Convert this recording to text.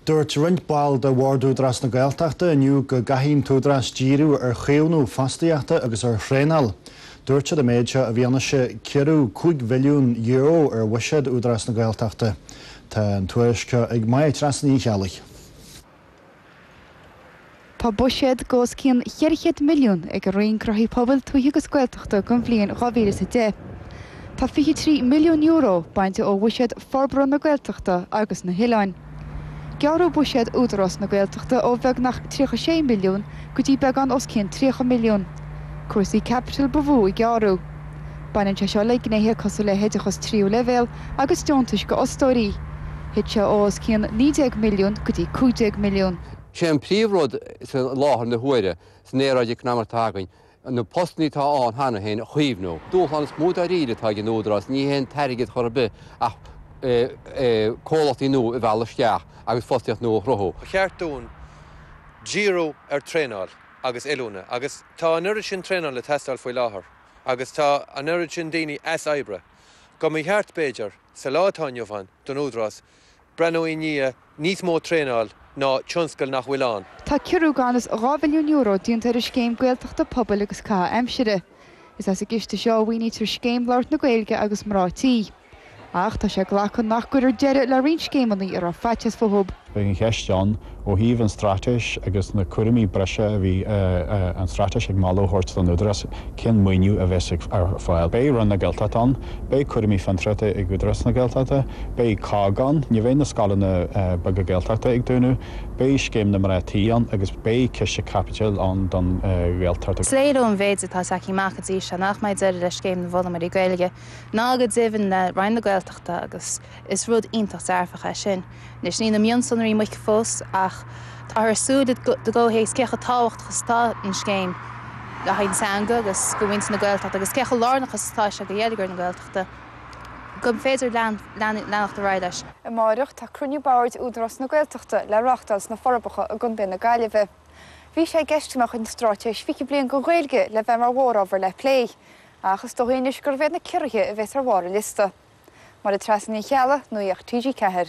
Dúirt roinnt ball de Bhord Údarás na Gaeltachta inniu go gcaithfidh an tÚdarás díriú ar chaomhnú fostaíochta agus ar thraenáil. Dúirt siad an méid seo i bhfianaise ciorrú €5 mhilliún ar bhuiséad Údarás na Gaeltachta. Tá an tuairisc seo ag Máire Treasa Ní Cheallaigh. Tá buiséad d'os cionn 400 milliún ag an Roinn Gnóthaí Pobail, Tuaithe agus Gaeltachta don bhliain 2010. Tá €23 milliún bainte ó bhuiséad Forbartha na Gaeltachta agus na hOileáin. Gearradh buiséad Údarás na Gaeltachta ó bheagnach 36 milliún go dtí beagán os cionn 30 milliún. Cúrsaí caipitil ba mhó a gearradh. Baineann sé seo le gnéithe cosúil le hoideachas tríú leibhéal agus deontais do fhostóirí. Thit sé ó os cionn 19 milliún go dtí 15 milliún. Sé an príomhrud sa láthair na huaire san aeráid eacnamaíoch atá againn na postannaí atá ann cheana féin a chaomhnú. Dúshlán is mó dáiríre atá ag an Údarás ní hé an t-airgead chor ar bith ach comhlachtaí nua a mhealladh isteach agus fostaíocht nua a chruthú. Ba cheart dúinn díriú ar traenáil agus oiliúna agus tá an oiread sin traenáil ag teastáil faoi láthair. Agus tá an oiread sin daoine as oibre go mba cheart, b'fhéidir, sa lá atá inniu ann, don Údarás breathnú i ndiaidh níos mó traenáil ná tionscail nach bhfuil ann. Tá ciorrú gan fhios €2 mhilliún déanta ar an Scéim Gaeltachta Pobail agus Caitheamh Aimsire. Is as an gciste seo a mhaoinítear Scéim Labhairt na Gaeilge agus Mná Tí. Ach tá sé glactha nach gcuirfear deireadh le roinnt scéimeanna a raibh faitíos fúthu. Beidh an cheist ann, ó thaobh an Straitéis agus na cúraimí breise a bhí an Straitéis ag moladh a thabhairt don Údarás, cén maoiniú a bheas ar fáil. Beidh Roinn na Gaeltachta ann, beidh cúraimí fiontraíochta ag Údarás na Gaeltachta, beidh COGG ann, ní bheidh na scoileanna beaga Gaeltachta ag dúnadh, beidh scéim na mná tí ann agus beidh ciste caipitil ann don Ghaeltacht. Is léir ón mhéid atá tagtha amach go dtí seo nach mbeidh deireadh le Scéim na bhFoghlaimeoirí Gaeilge. ná go deimhin le Roinn na Gaeltachta agus is rud iontach dearfach é sin. Anois, níl na mionsonraí amuigh fós ach táthar ag súil i gcomhthéacs cé chomh tábhachtach is atá an scéim le haghaidh na teanga agus do mhuintir na Gaeltachta agus cé chomh lárnach is atá sé do gheilleagar na Gaeltachta gur féidir leanacht ar aghaidh leis. Amáireach, tá cruinniú boird Údarás na Gaeltachta le reáchtáil sna Forbacha i gContae na Gaillimhe. Bhí sé i gceist go mbeadh an Straitéis 20 Bliain don Ghaeilge le bheith mar mhórábhar le plé. Ach is dóichí anois gurb iad na ciorruithe a bheas ar bharr an liosta, Máire Treasa Ní Cheallaigh, Nuacht TG4.